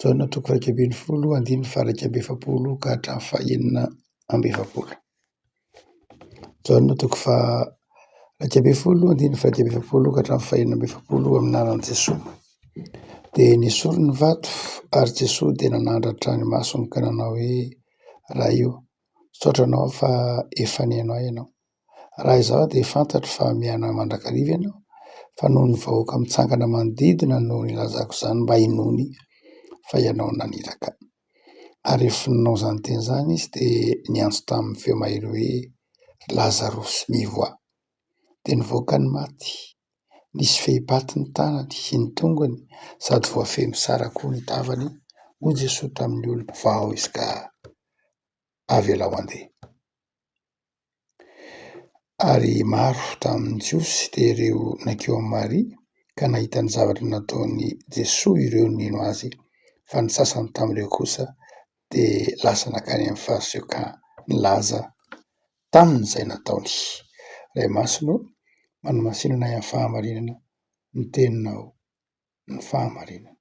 Jaona toko iraika ambin'ny folo andininy faha-iraika amby efapolo ka hatramin'ny faha-enina amby efapolo. Jaona toko faha-iraika ambin'ny folo andininy faha-iraika amby efapolo ka hatramin'ny faha-enina amby efapolo eo amin'ny anaran'i Jesoa. Dia nesoriny ny vato ary Jesoa dia nanandratra ny masony ka nanao hoe, Ray o, misaotra anao fa efa nino ahy ianao. Raha izaho dia fantatro fa mihainoa mandrakariva ianao fa noho ny vahoaka mitsangana manodidina no nilazako izany mba hinoany fa ianao naniraka. Ary rehefa nanao izany teny izany izy dia niantso tamin'ny feo mahery hoe, Ry Lazarosy, mivoaha! Dia nivoaka ny maty, nisy fehipaty ny tanany sy ny tongony sady voafehy mitsara koa ny tavany, hoy Jesoa tamin'ny olona, Vao izy ka avelao handeha. Ary maro tamin'ny Jiosy dia ireo nankeo amin'i Maria ka nahita ny zavatra nataon'i Jesoa ireo nino azy, fa ny sasany tamin'ireo kosa dia lasa nankany amin'ny Fariseokà nilaza taminy izay nataony. Ray Masina ô, manamasino anay amin'ny fahamarinana ny teninao, ny fahamarinana.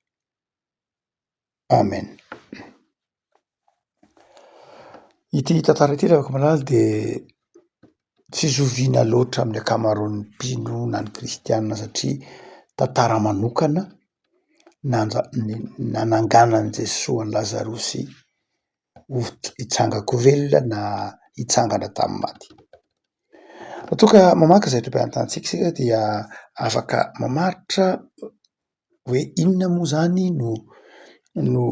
Amen. Ity tantara ity raha vao mahalala dia tsy zoviana loatra amin'ny ankamaroan'ny mpino na ny kristiana satria tantara manokana nanja- nananganan'i Jesoa an'i Lazarosy ho hitsanga-ko velona na hitsangana tamin'ny maty. Raha toa ka mamaky izay tobim-pahitantsika isika dia afaka mamaritra hoe inona moa izany no no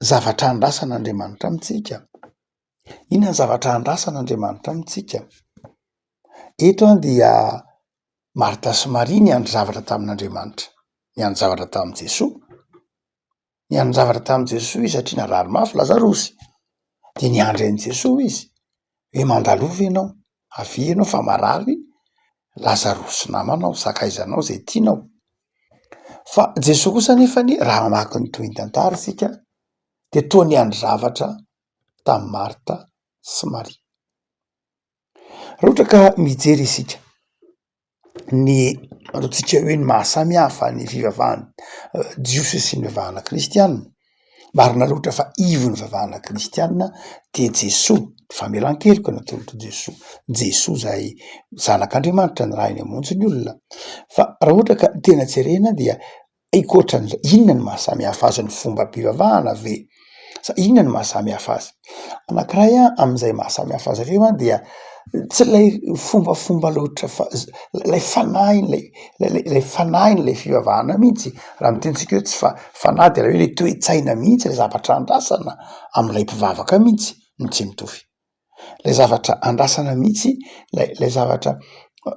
zavatra andrasan'Andriamanitra amintsika? Inona ny zavatra andrasan'Andriamanitra amintsika? Eto an dia Martha sy Maria niandry zavatra tamin'Andriamanitra, niandry zavatra tamin'i Jesoa, niandry zavatra tamin'i Jesoa izy satria narary mafy Lazarosy dia niandry an'i Jesoa izy. hoe mandalo ve ianao, avia ianao fa marary, lasa roso namanao, sakaiza anao zay tianao. Fa Jesoa kosa nefany raha mamaky ny tohintantara isika de toa niandry zavatra tamin'i Martha sy Maria. Raha ohatra ka mijery isika. ny ataontsika hoe ny maha samy hafa ny fivavahana jiosy sy ny vavahana kristiana, marina loatra fa ivon'ny vavahana kristiana dia Jesoa, famelan-keloka ny atolotr'i Jesoa, Jesoa izay zanak'Andriamanitra nirahin'ny hamonjy ny olona fa raha ohatra ka tena jerena dia Ankoatran'izay, inona no maha samy hafa azy ny fombam-pivavahana ve? Sa inona no maha samy hafa azy? Anankiray amin'izay maha samy hafa azy ireo dia tsy ilay fombafomba loatra fa ilay fanahin'ilay ilay fanahin'ilay fivavahana mihitsy, raha ny tenintsika hoe tsy fa- fanahy dia ilay hoe ilay toe-tsaina mihitsy, ilay zavatra andrasana amin'ilay mpivavaka mihitsy no tsy mitovy. ilay zavatra andrasana mihitsy, ilay ilay zavatra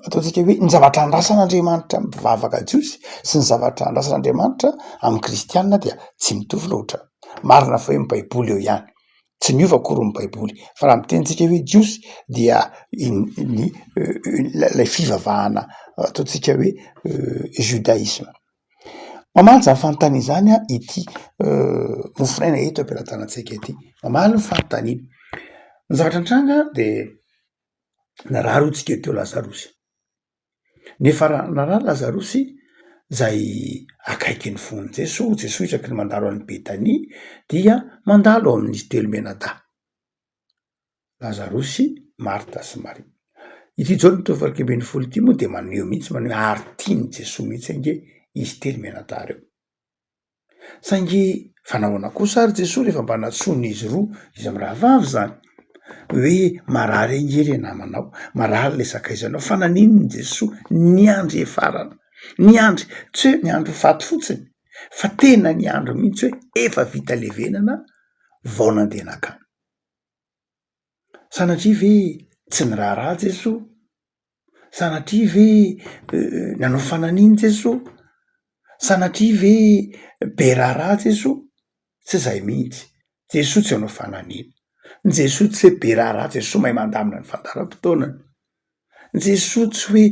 ataontsika hoe ny zavatra andrasan'Andriamanitra amin'ny mpivavaka jiosy sy ny zavatra andrasan'Andriamanitra amin'ny kristiana dia tsy mitovy loatra. Marina fa hoe ny baiboly eo ihany, tsy miova akory ny baiboly fa raha miteny tsika hoe jiosy dia in- ny ilay fivavahana ataontsika hoe judaisme. Mamaly zany fanontaniana izany aho ity mofonaina eto am-pelatanantsika ity. Mamaly ny fanontaniana. Ny zavatra nitranga de narary hoy tsika teo lazarosy. Nefa ra- narary lazarosy zay akaiky ny fon'i Jesoa, Jesoa isaky ny mandalo any Betania dia mandalo ao amin'ny telo menadahy. Lazarosy, Marta sy Maria. Ity Jaona telo valo iraika ambin'ny folo ity moa dia maneho mihitsy maneho ary tian'i Jesoa mihitsy ange izy telo mianadahy ireo. Saingy fa nahoana kosa ary Jesoa rehefa mba nantsoiny izy roa izy mirahavavy izany hoe marary ange le namanao, marary le sakaizanao fa naninona Jesoa niandry hiafarana, niandry tsy hoe niandry ho faty fotsiny fa tena niandry mihitsy hoe efa vita levenana. vao nandeha nankany. Sanatria ve tsy niraharaha Jesoa? Sanatria ve nanao fanan'iny Jesoa? Sanatria ve be raharaha Jesoa? Tsy zay mihitsy, Jesoa tsy hanao fanan'iny, Jesoa tsy hoe be raharaha, Jesoa mahay mandamina ny fandaharam-potoanany. Jesoa tsy hoe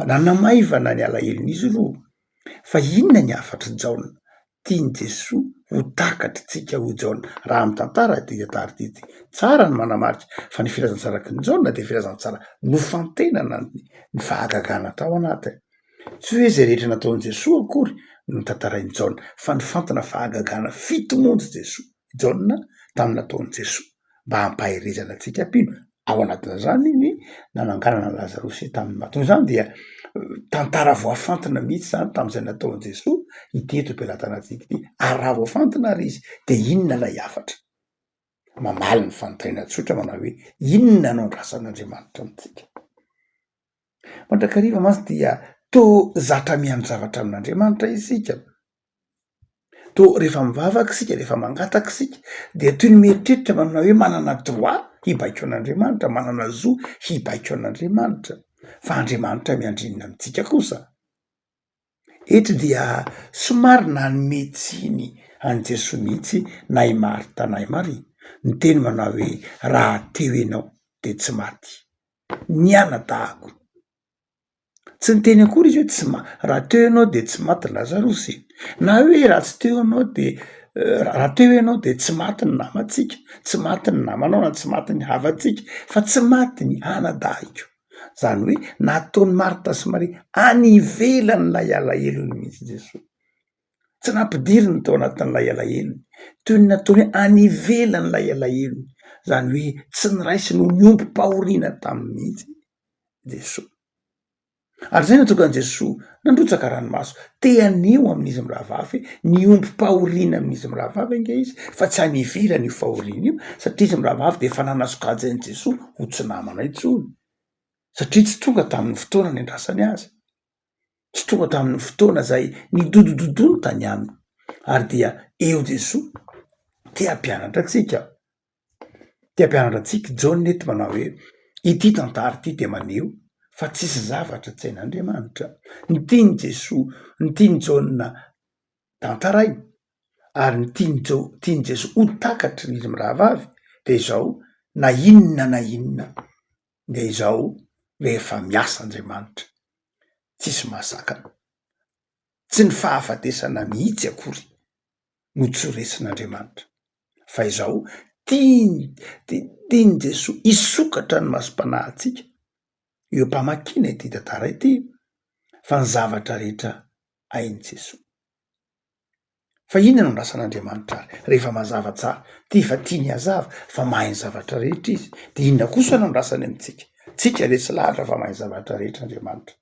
nanamaivana ny alahelon'izy ireo. Fa inona ny hafatr'i Jaona? Tian'i Jesoa ho takatr'tsika ho Jaona. Raha mitantara ity tantara ity dia tsara ny manamarika fa ny filazantsaran'i Jaona dia filazantsara nofantenana ny fahagagana tao anatiny. Tsy hoe izay rehetra nataon'i Jesoa akory no tantarain'i Jaona fa nifantina fahagagana fito monja i Jesoa, Jaona, tamin'ny nataon'i Jesoa. mba hampaherezana antsika mpino, ao anatin'izany ny nananganana an'i Lazarosy tamin'ny matoa, izany dia tantara voafantina mihitsy izany tamin'izay nataon'i Jesoa ity eto am-pelatanantsika ity, ary raha voafantina ary izy dia inona ilay hafatra? mamaly ny fanontaniana tsotra manao hoe inona no andrasan'Andriamanitra amintsika? mandrakariva mantsy dia toa zatra mihaino zavatra amin'Andriamanitra isika, Toa rehefa mivavaka isika, rehefa mangataka isika dia toy ny mieritreritra manana hoe manana droit hibaiko an'Andriamanitra, manana zo hibaiko an'Andriamanitra fa Andriamanitra miandrinna amintsika kosa. Eto dia somary nanome tsiny an'i Jesoa mihitsy na i Marta na i Maria, niteny manao hoe raha teo ianao dia tsy maty, nianadahy ko. Tsy niteny akory izy hoe tsy ma- raha teo ianao dia tsy maty Lazarosy e! na hoe raha tsy teo ianao dia raha teo ianao dia tsy maty ny namantsika, tsy maty ny namanao na tsy maty ny havantsika fa tsy maty ny anadahiko. Zany hoe nataon'i Martha sy Maria any ivelan'ilay alahelony mihitsy Jesoa, tsy nampidiriny tao anatin'ilay alahelony, toy ny nataony hoe any ivelan'ilay alahelony, zany hoe tsy niraisiny ho ny ombim-pahoriana taminy mihitsy izy. Jesoa. Ary izay nahatonga an'i Jesoa nandrotsaka ranomaso. Te haneho amin'izy mirahavavy hoe niombom-pahoriana amin'izy mirahavavy ange izy fa tsy any ivelany io fahoriana io satria izy mirahavavy dia efa nanasokajy an'i Jesoa ho tsy namana intsony satria tsy tonga tamin'ny fotoana niandrasany azy. Tsy tonga tamin'ny fotoana izay nidodododony tany aminy. Ary dia eo Jesoa te hampianatra antsika Te hampianatra antsika i Jaona eto manao hoe, ity tantara ity dia maneho fa tsisy zavatra tsy hain'Andriamanitra. Ny tian'i Jesoa, ny tian'i Jaona tantaraina ary ny tian'i Jao- tian'i Jesoa ho takatry ny izy mirahavavy dia izao, na inona na inona dia izao rehefa miasa Andriamanitra tsisy mahasakana, tsy ny fahafatesana mihitsy akory no tsy ho resin'Andriamanitra. fa izao tiany dia tian'i Jesoa hisokatra ny masom-panahintsika. Eo am-pamakiana ity tantara ity fa ny zavatra rehetra hain'i Jesoa. Fa inona no andrasan'Andriamanitra ary rehefa mazava tsara? Tia fa tiany hazava fa mahay ny zavatra rehetra Izy. Dia inona kosa no andrasany amintsika? Tsika ve tsy lahatra fa mahay ny zavatra rehetra Andriamanitra?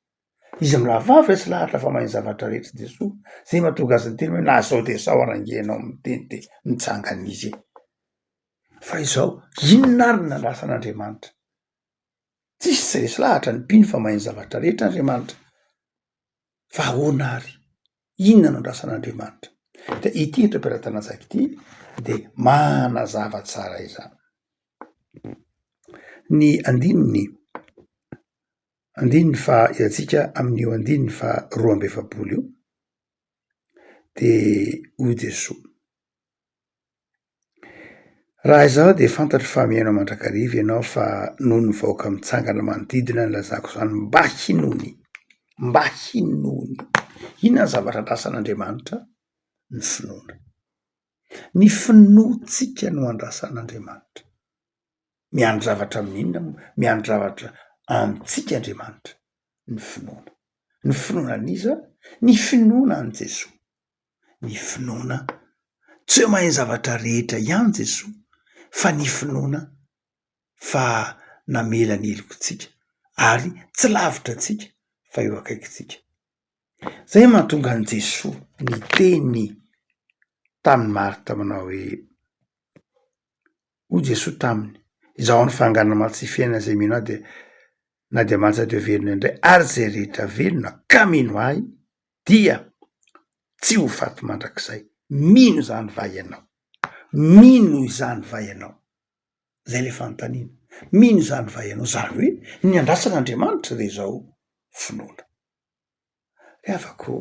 Izy mirahavavy resy lahatra fa mahay ny zavatra rehetra i Jesoa, zay mahatonga azy niteny hoe na zao de zao ara nge enao miteny de mitsangana izy e! Fa izao, inona ary no nandrasan'Andriamanitra? Tsisy tsy resy lahatra ny mpino fa mahay ny zavatra rehetra Andriamanitra. Fa ahoana ary? Inona no andrasan'Andriamanitra? De ity eto am-pelatanantsika ity de manazava tsara izany. Ny andininy andininy faha hiantsika amin'io andininy faha roa amby efapolo io de hoy Jesoa raha izaho de fantatro fa mihaino mandrakariva ianao fa noho ny vahoaka mitsangana manodidina ny lazako izany mba hinoany mba hinoany inona ny zavatra andrasan'Andriamanitra ny finoana ny finoantsika no andrasan'Andriamanitra Miandry zavatra amin'inona moa? Miandry zavatra amintsika Andriamanitra, ny finoana. Ny finoana an'iza? Ny finoana an'i Jesoa. Ny finoana, tsy hoe mahay ny zavatra rehetra ihany Jesoa, fa ny finoana fa namela ny helokintsika ary tsy lavitra antsika fa eo akaikintsika. Zay no mahatonga an'i Jesoa niteny tamin'i Marta manao hoe, Hoy Jesoa taminy, Izaho ny fahanganana maty sy fiainana, izay mino Ahy dia na dia maty aza dia ho velona indray, ary izay rehetra velona ka mino Ahy dia tsy ho faty mandrakizay. Mino izany va ianao? Mino izany va ianao? Izay ilay fanontaniana. Mino izany va ianao? Izany hoe ny handrasa an'Andriamanitra dia izao finoana. Ry havako,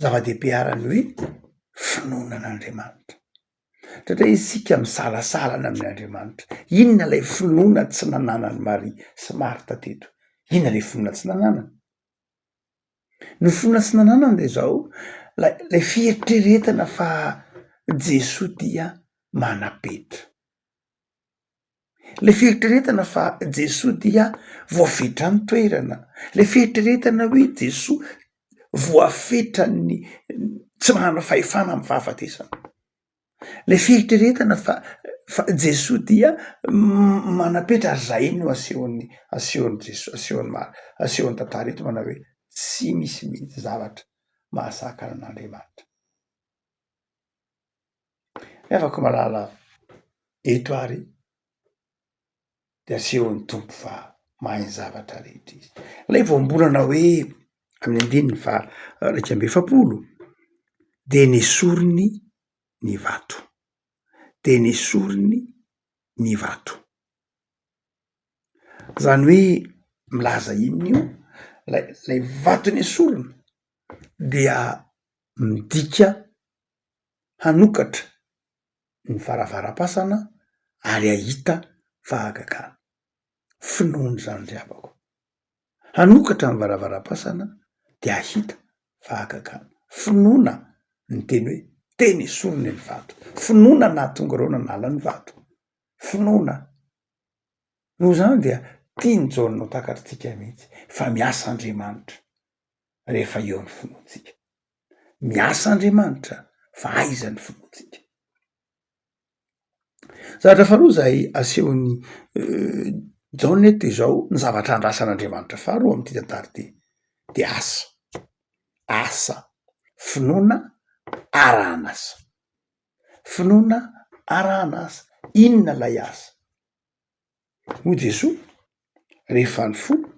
zava-dehibe arany hoe finoana an'Andriamanitra satria isika misalasala ny amin'Andriamanitra. Inona ilay finoana tsy nananan'i Maria sy Marta teto? Inona ilay finoana tsy nananany? Ny finoana tsy nananany dia izao, ilay ilay fieritreretana fa Jesoa dia manapetra. Le fieritreretana fa Jesoa dia voafetra ny toerana, le fieritreretana hoe Jesoa voafetran'ny tsy manana fahefana amin'ny fahafatesana, le fieritreretana fa fa Jesoa dia manapetra ary zay no asehon'ny asehon'i Jesoa asehon'ny ma- asehon'ny tantara eto manao hoe tsy misy mihitsy zavatra mahasakana an'Andriamanitra. Revako malala eto ary de asehon'ny Tompo fa mahay ny zavatra rehetra izy. Ilay voambolana hoe amin'ny andininy faha iraika amby efapolo de nesoriny ny vato, de nesoriny ny vato. Zany hoe milaza inona io? Ilay ilay vato nesoriny dia midika hanokatra ny varavaram-pasana ary hahita fahagagana. Finoany izany ry havako. Hanokatra ny varavaram-pasana dia hahita fahagagana. Finoana ny teny hoe teny esoriny ny vato. Finoana ny nahatonga ireo nanala ny vato. Finoana. Noho izany dia tian'i Jaona ho takatr'tsika mihitsy fa miasa Andriamanitra rehefa eo ny finoantsika. Miasa Andriamanitra fa aiza ny finoantsika. Zavatra faharoa izay asehon'i Jaona eto dia izao ny zavatra andrasan'Andriamanitra faharoa amin'ity tantara ity dia asa, asa, finoana arahan'asa, finoana arahan'asa, inona ilay asa? Hoy Jesoa, rehefa nifoha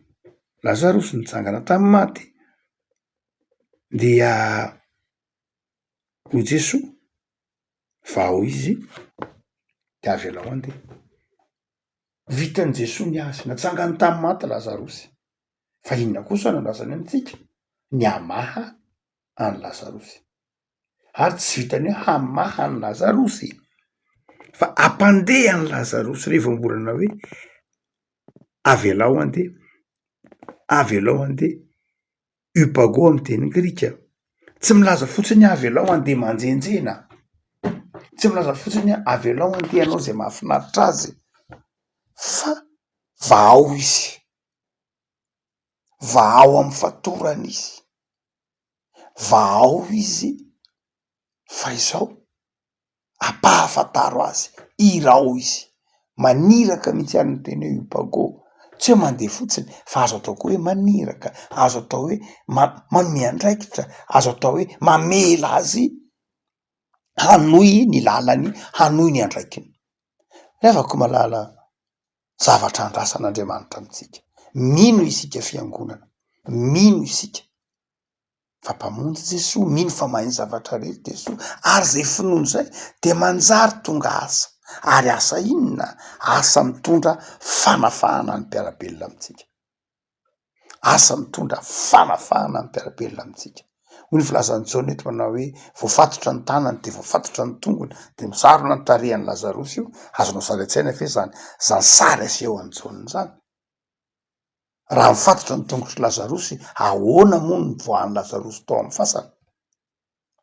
Lazaro sy nitsangana tamin'ny maty dia hoy Jesoa, vao izy de avelao handeha. Vitan'i Jesoa ny azy, natsangany tamin'ny maty Lazarosy, fa inona kosa no andrasany amintsika? Ny hamaha an'i Lazarosy. ary tsy vitan'ny hoe hamaha an'i Lazarosy e, fa hampandeha an'i Lazarosy re vao mbola nanao hoe avelao handeha, avelao handeha, upago amin'ny teny grika, tsy milaza fotsiny hoe avelao handeha manjenjena, tsy milaza fotsiny hoe avelao handeha hanao izay mahafinaritra azy fa vahao izy, vahao amin'ny fatorany izy. vahao izy fa izao ampahafantaro azy, hirao izy, maniraka mihitsy ary ny teny hoe hipago tsy hoe mandeha fotsiny fa azo atao koa hoe maniraka, azo atao hoe manome andraikitra, azo atao hoe mamela azy hanohy ny lalany, hanohy ny andraikiny. Ry havako malala zavatra andrasan'Andriamanitra amintsika, mino isika fiangonana, mino isika. fa mpamonjy Jesoa, mino fa mahay ny zavatra rehetra Jesoa ary izay finoany izay dia manjary tonga asa ary asa inona? Asa mitondra fanafahana ny mpiara-belona amintsika, asa mitondra fanafahana ny mpiara-belona amintsika, hoy ny filazan'i Jaona eto manao hoe voafatotra ny tanany dia voafatotra ny tongony dia misarona ny tarehan'i Lazarosy io, azonao sary an-tsaina ve izany izany sary asehon'i Jaona izany? Raha mifatotra ny tongotr'i Lazarosy, ahoana moa no nivoahan'i Lazarosy tao amin'ny fasana?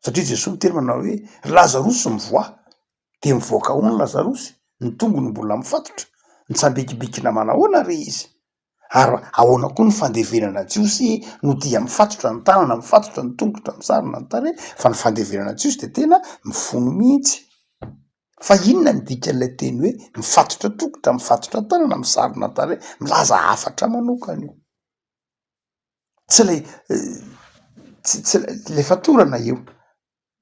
Satria Jesoa niteny manao hoe, Ry Lazarosy mivoaha! Dia mivoaka ahoana i Lazarosy? Ny tongony mbola mifatotra? Nitsambikibikina manahoana re izy? Ary ahoana koa ny fandevenana Jiosy no dia mifatotra ny tanana, mifatotra ny tongotra, misarona ny tarehy, fa ny fandevenana Jiosy dia tena mifono mihitsy. Fa inona ny dikan'ilay teny hoe mifatotra tongotra, mifatotra tanana, misarona tarehy? Milaza hafatra manokana io. Tsy ilay tsy tsy ilay fatorana io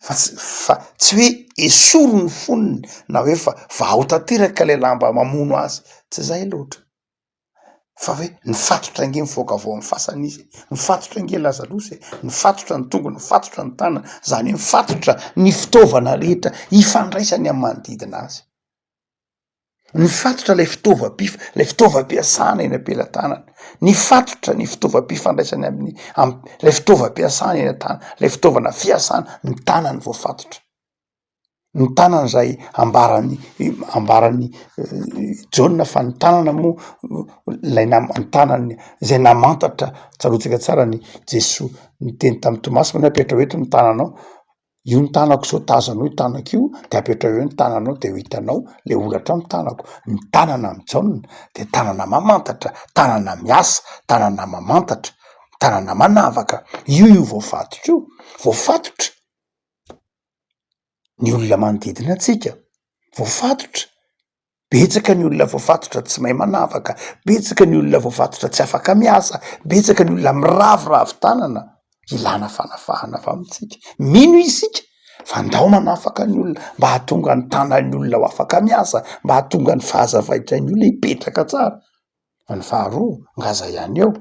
fa tsy fa tsy hoe esory ny fonony na hoe fa vahao tanteraka ilay lamba mamono azy, tsy izay loatra. fa hoe nifatotra ange nivoaka avy ao amin'ny fasana izy e! Nifatotra ange Lazalosa e! Nifatotra ny tongony, nifatotra ny tanana, izany hoe nifatotra ny fitaovana rehetra ifandraisany amin'ny manodidina azy. Nifatotra ilay fitaovam-pif- ilay fitaovam-piasana eny am-pelatanany, nifatotra ny fitaovam-pifandraisany amin'ny am- ilay fitaovam-piasana eny an-tanany, ilay fitaovana fiasana ny tanany voafatotra. ny tanana zay ambaran'ny ambaran'ny Jaona fa ny tanana moa ilay nama- ny tanany zay namantatra tsaroantsika tsara ny Jesoa niteny tamin'i Tomasy hoe apetraho eto ny tananao io ny tanako sao tazo anao io tanako io de apetraho eo ny tananao de ho hitanao le holatra ao ny tanako, ny tanana amin'i Jaona de tanana mamantatra, tanana miasa, tanana mamantatra, tanana manavaka, io io voafatotra io, voafatotra. ny olona manodidina antsika voafatotra, betsaka ny olona voafatotra tsy mahay manavaka, betsaka ny olona voafatotra tsy afaka miasa, betsaka ny olona miraviravy tanana ilana fanafahana avy amintsika, mino isika fa ndao manafaka ny olona mba hahatonga ny tanan'ny olona ho afaka miasa, mba hahatonga ny fahazavain'ny olona hipetraka tsara. Fa ny faharoa nga aza ihany eo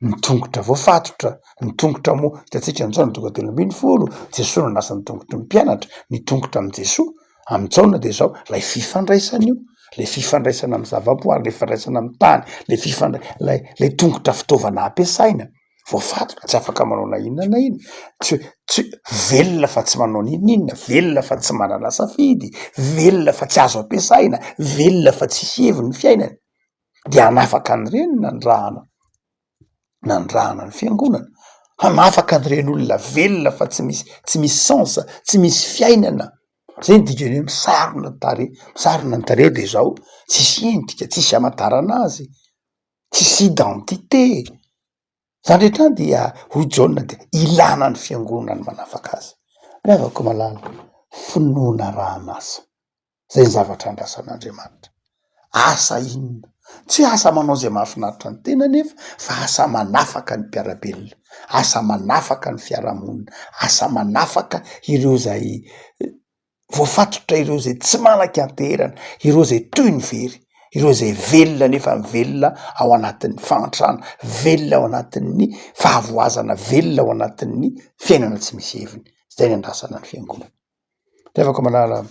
ny tongotra voafatotra, ny tongotra moa hitantsika amin'izao ny tongotra telo ambin'ny folo, Jesoa nanasa ny tongotry ny mpianatra, ny tongotra amin'i Jesoa, amin'i Jaona dia izao ilay fifandraisana io, ilay fifandraisana amin'ny zavaboary, ilay fifandraisana amin'ny tany, ilay fifandrai- ilay ilay tongotra fitaovana ampiasaina. voafatina tsy afaka manao na inona na inona tsy hoe tsy hoe velona fa tsy manao na inona inona velona fa tsy manana safidy velona fa tsy azo ampiasaina velona fa tsisy heviny ny fiainany de hanafaka an'ireny ny nanirahana nanirahana ny fiangonana hanafaka an'ireny olona velona fa tsy misy tsy misy sens tsy misy fiainana zay ny dikany hoe misarona ny tarehy misarona ny tarehy de zao tsisy endrika tsisy amantarana azy Tsisy identité e! Zany rehetra zany dia hoy i Jaona dia ilana ny fiangonana ny manafaka azy. Ry havako malala, finoana arahan'asa, zay ny zavatra andrasan'Andriamanitra. Asa inona? Tsy hoe asa manao izay mahafinaritra ny tena anefa fa asa manafaka ny mpiara-belona, asa manafaka ny fiarahamonina, asa manafaka ireo izay voafatotra ireo izay tsy malaky anteherana, ireo izay toy ny very, ireo izay velona nefa velona ao anatin'ny fahantrana, velona ao anatin'ny fahavoazana, velona ao anatin'ny fiainana tsy misy heviny. Izay ny andrasana ny fiangonana. Revako malala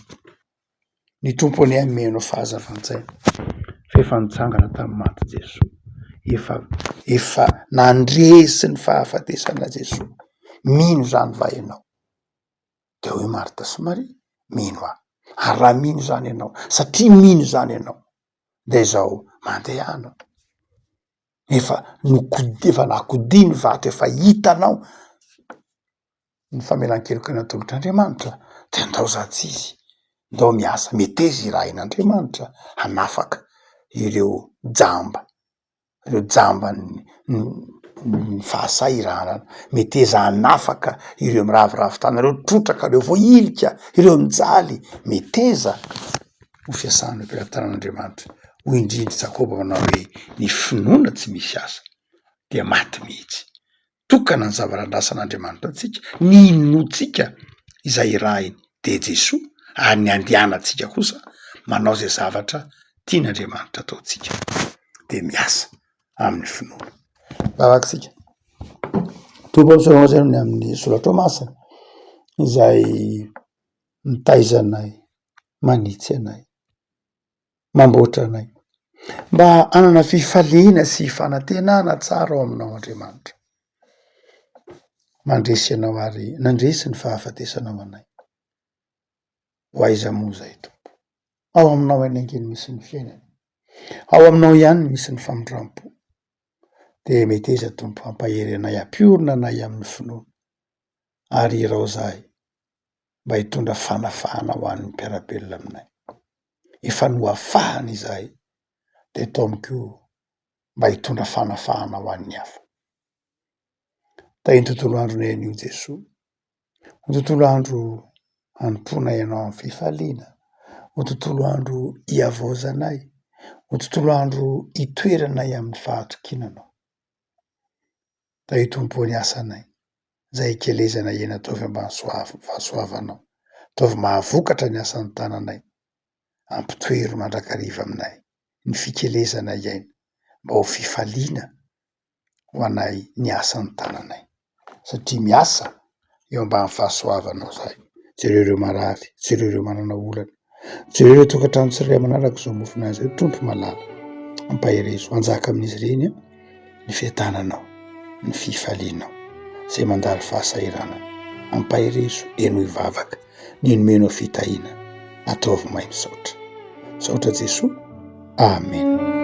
ny Tompo anie hanome anao fahazavan-tsaina fa efa nitsangana tamin'ny maty Jesoa, efa efa nandresy ny fahafatesana Jesoa, mino izany va ianao? Dia hoy Marta sy Maria, Mino aho. Ary raha mino izany ianao, satria mino izany ianao, dia izao, mandehana. Efa nokod- efa nakodia ny vato, efa hitanao ny famelan-keloka natolotr'Andriamanitra, dia andao zatra izy, ndao miasa, meteza irahin'Andriamanitra hanafaka ireo jamba reo jamban'ny ny fahasahirana, meteza hanafaka ireo miraviravy tana reo, trotraka reo vao ilika ireo mijaly, meteza ho fiasan'ny mpiratanaandriamanitra, hoy indrindra i jakoba manao hoe ny finoana tsy misy asa dia maty mihitsy. tokana ny zava-randrasan'Andriamanitra antsika, ny inoantsika izay irahiny dia Jesoa ary ny andianantsika kosa manao izay zavatra tian'Andriamanitra ataontsika dia miasa amin'ny finoana. Vavaka isika. Tompo ami'izao ianao izay amin'ny amin'ny soratrao masina izay mitaiza anay, manitsy anay. mamboatra anay, mba hanana fifaliana sy fanantenana tsara ao Aminao, Andriamanitra. Mandresy Ianao ary nandresy ny fahafatesanao anay. Ho aiza moa izay, Tompo? Ao Aminao eny ange no misy ny fiainana. Ao Aminao ihany no misy ny famindram-po. Dia meteza, Tompo, hampahery anay, hampiorina anay amin'ny finoana, ary irao izahay. mba hitondra fanafahana ho an'ny mpiara-belona aminay. Efa nohafahana izahay de ataony koa mba hitondra fanafahana ho an'ny hafa. Tahin'ny tontolo andronay anio Jesoa. Ho tontolo andro hanompoana ianao amin'ny fifaliana. Ho tontolo andro hihavaozanay. Ho tontolo andro hitoeranay amin'ny fahatokiana anao. Tahio Tompo o ny asanay. izay hikelezana eny ataovy ambanisoavy fahasoavanao ataovy mahavokatra ny asan'ny tananay ampitoero mandrakariva aminay ny fikelezana iaina mba ho fifaliana ho anay ny asan'ny tananay satria miasa eo ambany fahasoavanao izahay jereo ireo marary jereo ireo manana olana Jereo ilay tokantrano tsirairay manaraka izao mofona izao Tompo malala, ampaherezo, anjaka amin'izy ireny ny fiadananao, ny fifalianao izay mandalo fahasahiranana, ampaherezo, henoy vavaka ny nomenao fitahiana, ataovy may, misaotra, misaotra Jesoa Amen.